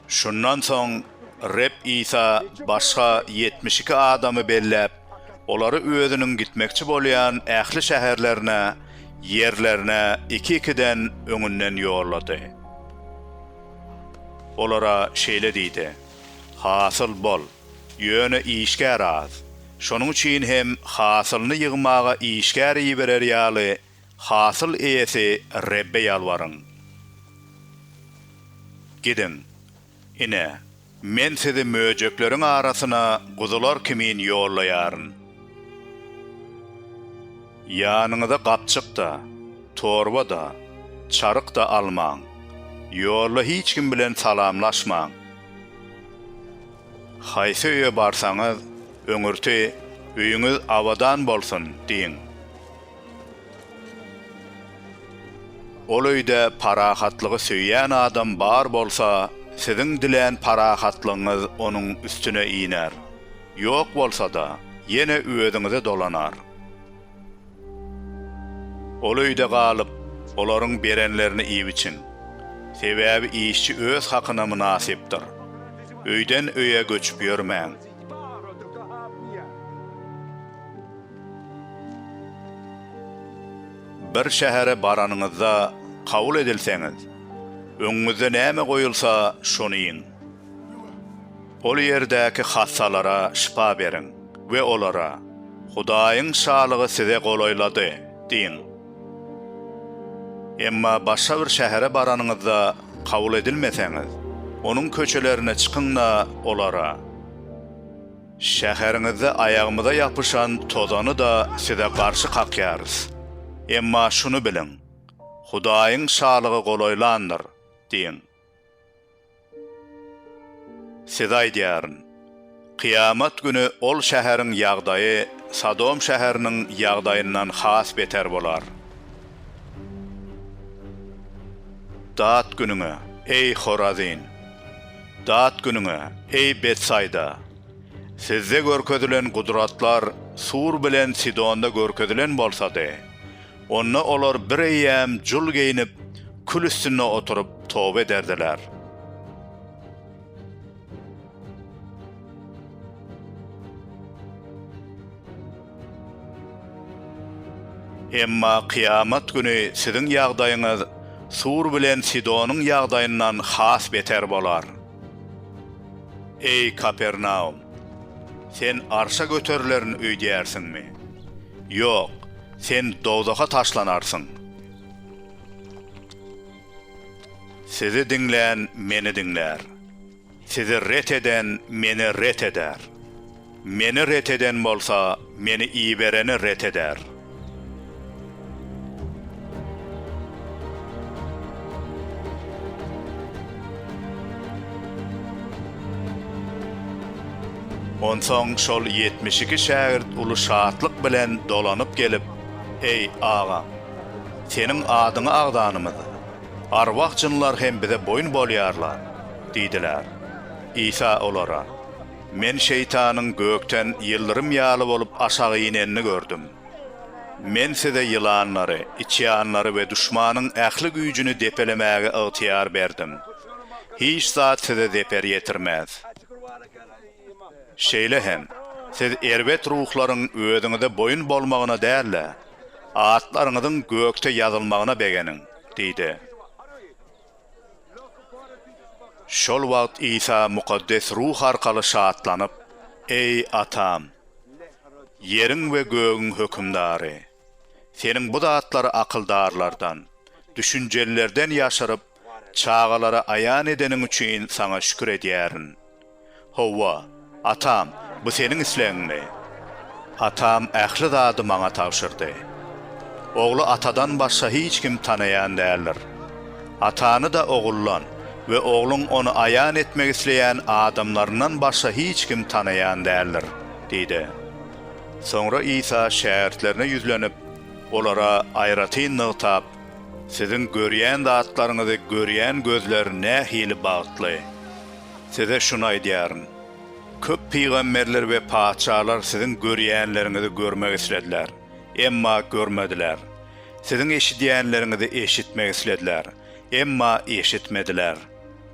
Şundan soň Reb Isa başga ýetmiş iki adamy belläp, olary Özüniň gitmekçi bolýan ähli şäherlerine ýerlerine iki-ikiden öňünden ýollady. Olara şeýle diýdi, Hasyl bol, ýöne işgär az. Şonuň üçin hem hasylyny ýygmaga işgär iberer ýaly, Hasyl eýesi Rebbe ýalbaryň. Gidiň, ine, Men sizi möjekleriň arasyna guzular kimin ýollaýaryn. Ýanyňyza gapjyk-da, torba-da, çaryk-da almaň, ýolda hiç kim bilen salamlaşmaň. Haýsy öýe barsaňyz, öňürti, Öýüňiz abadan bolsun! diýiň. Ol öýde parahatlygy söýýän adam bar bolsa, siziň dilän parahatlygyňyz onuň üstüne iner. Ýok bolsa-da, ýene özüňize dolanar. Ol öýde galyp, olaryň berenlerini iýip-içiň. Sebäbi işçi öz hakyna mynasypdyr. Öýden öýe göçüp ýörmäň. Bir şähere baranyňyzda kabul edilseňiz, öňüňizde näme goýulsa, şony iýiň. Ol ýerdäki hassalara şypa beriň we olara, Hudaýyň Şalygy size golaýlady! diýiň. Emma başga bir şähere baranyňyzda kabul edilmeseňiz, onuň köçelerine çykyň-da, olara. Şäheriňizde aýagymyza ýapyşan tozany-da size garşy kakýarys. Emma şuny biliň, Hudaýyň Şalygy golaýlandyr! diýiň. Size aýdýaryn, kyýamat güni ol şäheriň ýagdaýy Sodom şäheriniň ýagdaýyndan has beter bolar. Dat günüňe, eý, Horazin! Dat günüňe, eý, Betsaýda! Sizde görkezilen gudratlar Sur bilen Sidonda görkezilen bolsady, onda olar bireýýäm jul geýnip, kül üstünde oturyp, toba ederdiler. Emma kyýamat güni siziň ýagdaýyňyz Tur bilen Sidonyň ýagdaýyndan has beter bolar. Eý, Kapernaum! Sen arşa göterilerin öýdýärsiňmi? Ýok, sen dowzaha taşlanarsyň. Sizi diňlän meni diňlär. Sizi ret eden Meni ret eder. Meni ret eden bolsa Meni ibereni ret eder. Onsoň şol ýetmiş iki şägirt uly şatlyk bilen dolanyp gelip, Eý, agam! Seniň adyňy agzanymyz. Arwah-jynlar hem bize boýun bolýarlar diýdiler. Isa olara, Men şeýtanyň gökden ýyldyrym ýaly bolup aşak inenini gördüm. Men size ýylanlary, içýanlary we duşmanyň ähli güýjüni depelemäge ygtyýar berdim. Hiç zat size zeper ýetirmez. Şeýle hem, siz erbet ruhlaryň özüňize boýun bolmagyna däl-de, atlaryňyzyň gökde ýazylmagyna begeniň. diýdi. Şol wagt Isa Mukaddes Ruh arkaly şatlanyp, Eý, Atam, Ýeriň we gögüň Hökümdary! Seniň bu zatlary akyldarlardan, düşünjelilerden ýaşyryp, çagalara aýan edeniň üçin Saňa şükür edýärin. Hawa, atam, bu seniň islegiňmi? Atam ähli zady maňa tabşyrdy. Ogly atadan başga hiç kim tanaýan däldir. Atany-da oguldan we ogluň ony aýan etmek isleýän adamlaryndan başga hiç kim tanaýan däldir, diýdi. Soňra Isa şägirtlerine ýüzlenip, olara aýratyn nygtap, Siziň görýän zatlaryňyzy görýän gözler nähili bagtly! Size şuny aýdýaryn, köp pygamberler we patyşalar siziň görýänleriňizi görmek islediler, emma görmediler, siziň eşidýänleriňizi eşitmek islediler, emma eşitmediler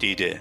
diýdi.